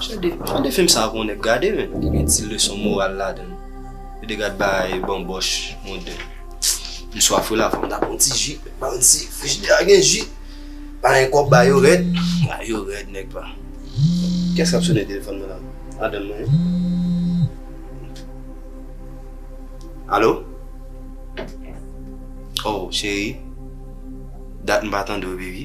Chande, chande film sa pou yon nèg gade men, li gen ti leson moral ladann. Yo de gad bagay banbòch, monde. M swaf wi la, fòk m ta pran yon ti ji, m pa konn si frijidè a gen ji. Palen kòb bagay yo rèd, bagay yo rèd nèg pa. Kiyès kap sone telefòn mwen la? Madanm mwen wi. Alo? Oh cheri, dat m pa tande w baby.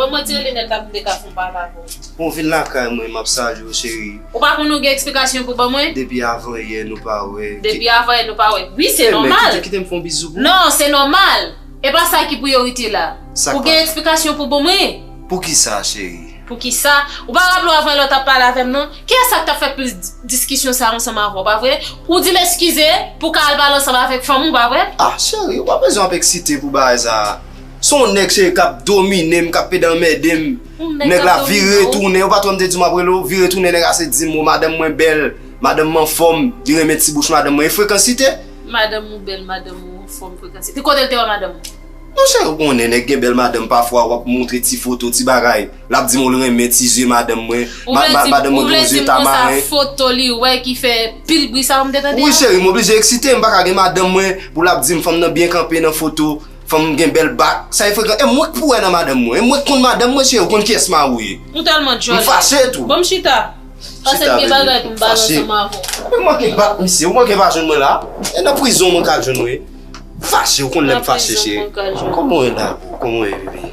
Bon mwen di Elinette la pou m te ka fon pale avè w. Bon vin lakay mwen map salye w cheri. Ou pa konnen ou gen eksplikasyon pou ban mwen? Depi avan yè nou pa wè. Depi avan yè nou pa wè. Wi se nòmal. Kite kitem fon bizou pou. Non se nòmal. E pa sa ki priyorite la. Sak pa. Ou gen eksplikasyon pou bon mwen? Poukisa cheri? Poukisa? Ou pa raple w avan yè la w tap pale avè m non? Kiyès sa ki tap fè plis diskisyon sa ansanm avè w pa vre? Ou di l eskize pou w ka al pale ansanm avèk fanm ou pa vre? Ah cheri ou pa bezwen ap eksite pou bagay sa. Son nèg serye kap dominem, kap pede anmèdem, nèg la vire tounen, ou pat wèm te diw map rele w, vire tounen nèg la se dim o madanm mwen bèl, madanm m anfòm, li renmen ti bouch madanm mwen, e frekansite? Madanm ou bèl, madanm ou anfòm, frekansite, kote l te wè madanm ou? Mon chè ou konnen nèg gen bèl madanm pafwa wap montre ti foto, ti bagay, lap dim l renmen ti zye madanm mwen, madanm mwen gen zye tamaren. Ou vle dim konsa foto li wè ki fè pil bri sa ou m te tande a? Wi cheri m oblije eksite, m paka gen madanm mwen pou lap dim fanm nan byen kanpe nan foto, Fanm gen bèl bak, sa e frekan, e mwenk pou wè nan madanm mwen, e mwenk konn madanm mwen se ou konn kiyès ma ou ye. M tèlman djòl. M fache tou. Banm chita. Pasem gen bagay poum bal ansanm avèw. Ou manke bat misye, ou manke pa jwenn mwen la, e nan prizon mwen ka jwenn ou ye. M fache ou konn lèm fache cheri. Nan prizon mwen ka jwenn ou. Kòman ou ye la boo, kòman ou ye bby.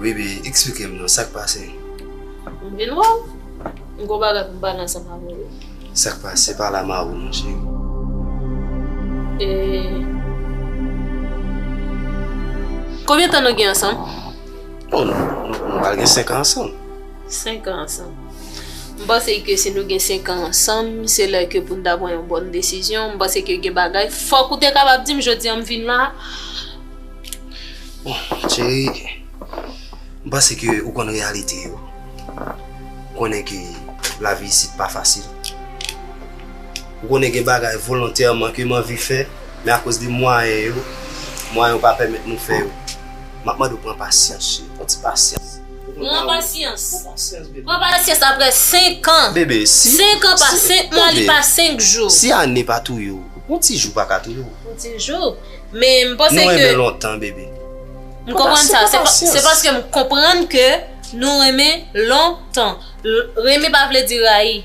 Bebe eksplike m non sak pase. M vin wè w, m gon bagay pou m pale ansanm avè w. Sak pase pale a mari w non cheri. E Konbyen tan nou gen ansanm? Bon nou pral gen 5 an ansanm. 5 an ansanm. M panse ke si nou gen 5 an ansanm se lè ke pou n ta pran yon bòn desizyon, m panse ke gen bagay fòk ou te kapab di m jodi an m vin la. Bon cheri, m panse ke ou konn reyalite yo. Ou konnen ke lavi isit pa fasil. Ou konnen gen bagay volontèman ke m anvi fè, men akoz de mwayen yo, mwayen yo pa pèmèt nou fè yo. M ap mande ou pran pasyans cheri, pran ti pasyans. Pran pasyans? Pran pasyans aprè senkan? Bebe, si. Senkan pa senk mwa, li pa senk jou. Si ane pa touye ou, yon ti jou pa ka touye ou? Yon ti jou? Men m panse ke. Nou renmen lontan bebe. M konprann sa, se paske m konprann ke nou renmen lontan. Renmen pa vle di rayi.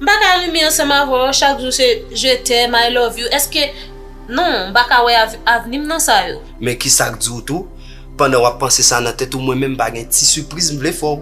M pa ka renmen ansanm avè w chak jou se je t'aime, I love you, eske. Non, m pa ka wè avni m nan sa yo. Men kisa k di w tou, pandan w ap panse sa nan tèt ou mwen menm m pa gen ti sipriz m vle fè w.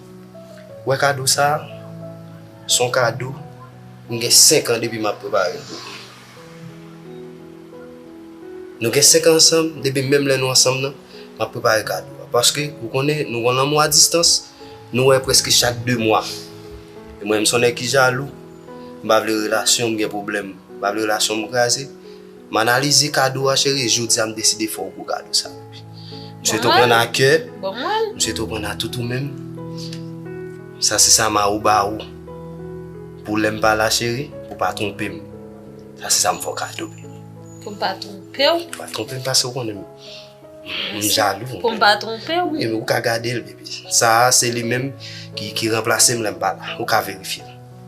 Wè kado sa a? S on kado m gen senk an depi m ap prepare l pou ou. Nou gen senk an ansanm, depi menm lè nou ansanm nan, m ap prepare kado a. Paske, ou konnen, nou konn lanmou a distans, nou wè prèske chak de mwa. E mwen menm s on nèg ki jalou, m pa vle relasyon m gen pwoblèm, m pa vle relasyon m kraze. M analize kado a cheri jodia m deside fè w gwo kado sa. M swete w prann a kè, m swete w prann a tout ou menm. Sa se sa mari w ba ou pou lè m pa la cheri, pou w pa twonpe m. Sa se sa m fè w kado baby. Pou m pa twonpe w? Pou w pa twonpe m paske w konnen m jalou. Pou m pa twonpe w? Ou ka gade l baby. Sa a se li menm ki ranplase m lè m pa la. Ou ka verifye l.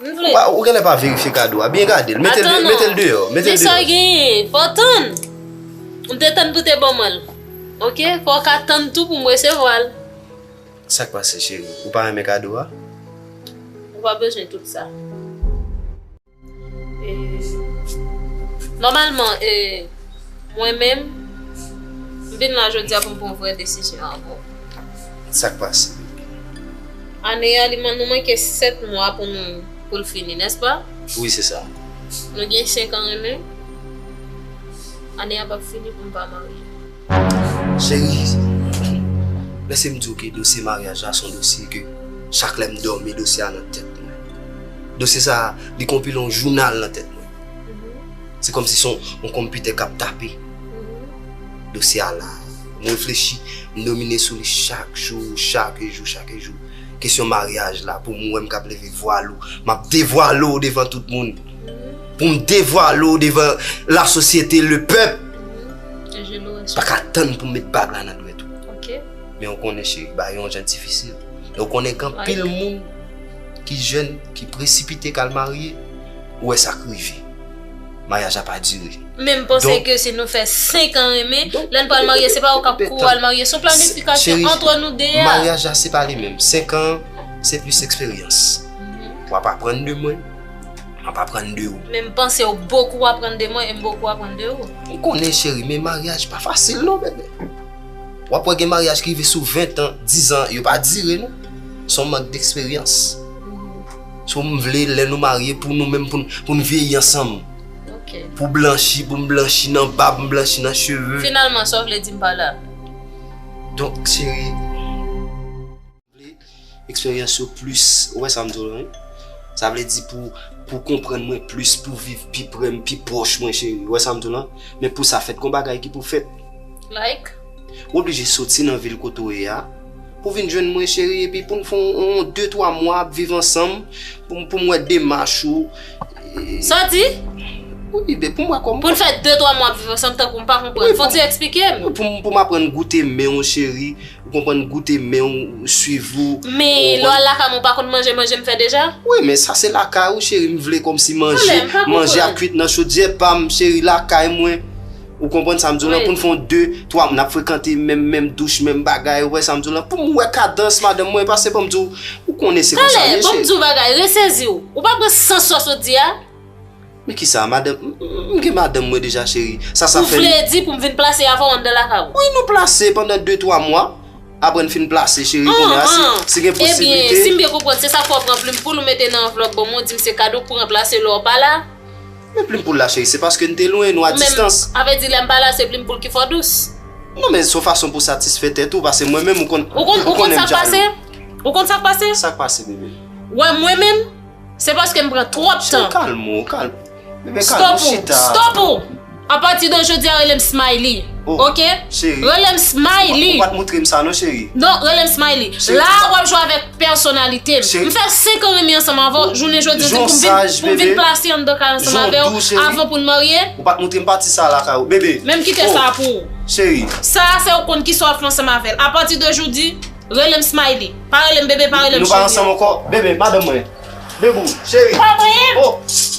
M vle. Wa ou genlè pa verifye kado a byen gadel metel de metel deyò metel deyò. Men sa genyen fòw tann m te tann pou te ban mwen l ok fòw ka tann tou pou m resevwa l. Sak pase cheri ou pa renmen kado a. Ou pa bezwen tout sa. E nòmalman e mwen menm m vin la jodia pou m pran vrè desizyon avèw. Sak pase baby? Ane a li nou manke 7 mwa pou nou poul fini n'est-ce pas? Wi se sa. Nou gen 5 an renmen. Ane a pap fini pou m pa marye. Chérie Lèse m di w ke dosye maryaj la son dosye ke chak lè m dòmi dosye a nan tèt mwen. Dosye sa li konpile yon jounal nan tèt mwen. Se kòmsi son yon konpitè kap tape. Dosye a la. M reflechi, m domine sou li chak jou, chak jou, chak jou. Kesyon maryaj la, pou m wè m kab leve vwal ou, m ap devwale ou devan tout moun. Pou m devwale ou devan lasosyete, lepèp. M pa ka tann pou m met bag la nan dwèt ou. Men ou konnen cheri, bagay yo jan difisil. E ou konnen gen anpil moun ki jèn, ki presipite k al marye, ou wè sa k rive. Maryaj la pa dire. Menm panse ke si nou fè 5 an renmen, lè n pral marye se pa ou k ap kou al marye, son planifikasyon antre nou 2 a. Maryaj la se pa li menm, 5 an se plis eksperyans. W ap aprann de mwen, m ap aprann de ou. Men m panse ou bokou aprann de mwen e m bokou aprann de ou. M konnen cheri men maryaj pa fasil non bebe. W ap wè gen maryaj ki rive sou 20 an, 10 an yo pa dire non. Son mank deksperyans. So m vle lè nou marye pou nou menm pou n vyeyi ansanm. Ok. Pou w blanchi, pou m blanchi nan bab, m blanchi nan cheve. Finalman sa w vle di m pa la? Donk cheri, m vle eksperyans yo plis, ou wè sa m di w lan wi. Sa vle di pou w konprann mwen plis, pou w viv pi pre m, pi pwòch mwen cheri. Ou wè sa m di w lan? Men pou sa fèt gon bagay ki pou fèt. Like? Ou oblije soti nan vil kote w ye a pou vin jwenn mwen cheri epi pou n fè yon de twa mwa ap viv ansanm pou m wè demach ou. Sa w di? Wi beb, pou m wè kòman. Pou n fè de twa mwa ap viv ansanm tankou m pa konprann. Fò ti eksplike m. Pou m aprann goute men w cheri, ou konprann goute men w, swiv ou. Men lè w al lakay mwen ou pa konn manje manje m fè deja? Wi men sa se lakay ou cheri m vle kòmsi manje, manje ap kwit nan chodyè pa m cheri lakay mwen. Ou konprann sa m di w lan pou n fon 2, 3 moun ap frekante menm menm douch menm bagay ou wè sa m di w lan pou m wè kadans madanm mwen pase banm di w ou konnen se konsa m ye cheri. Tande banm di w bagay resezi w ou pa pran sans sa w sot di a. Men kisa madanm m gen madanm mwen deja cheri sa sa fè n. Ou vle di pou m vin plase avè w anndan lakay ou. Wi nou plase pandan 2, 3 mwa aprè n fin plase cheri kounye a si gen posiblite. Ebyen si m byen konprann se sa fè w pran plim poul ou mete nan anvlòp banm ou di m se kado k pou ranplase lè w pa la. Men plim poul la cheri se paske n te lwen, nou a distans. Ou menm, avè di lè m pa la se plim poul ki fò dous. Non men son fason pou satisfè tèt ou pase mwen menm ou konn, ou konnen m jalou. Ou konn sa k pase? Ou konn sa k pase? Sa k pase bebe? Ou wè mwen menm, se paske m pran twòp tan. Cheri kalm ou, kalm. Bebe kalm ou chita. Stop ou! Stop ou! A pati de jodi a rele m Smiley. Oh! Ok? Cheri. Rele m Smiley. Ou pa t moutre m sa non cheri. Non, rele m Smiley. Cheri, ti sa. La w ap jwe avèk. pèsonalite m. M fè 5 an renmen ansanm avè w, jounen jodi an se pou m vin plase anndan kay ansanm avè w avan pou n marye? Ou pa t montre m pati sa a lakay ou, bebe. Men m kite sa a pou ou. Cheri. Sa a fè ou konn kisa w ap fè ansanm avè l. Apati de joudi, rele m Smiley. Pa rele m bebe, pa rele m cheri. Nou pa ansanm ankò, bebe, madanm mwen. Bebou, cheri. Pa voye m!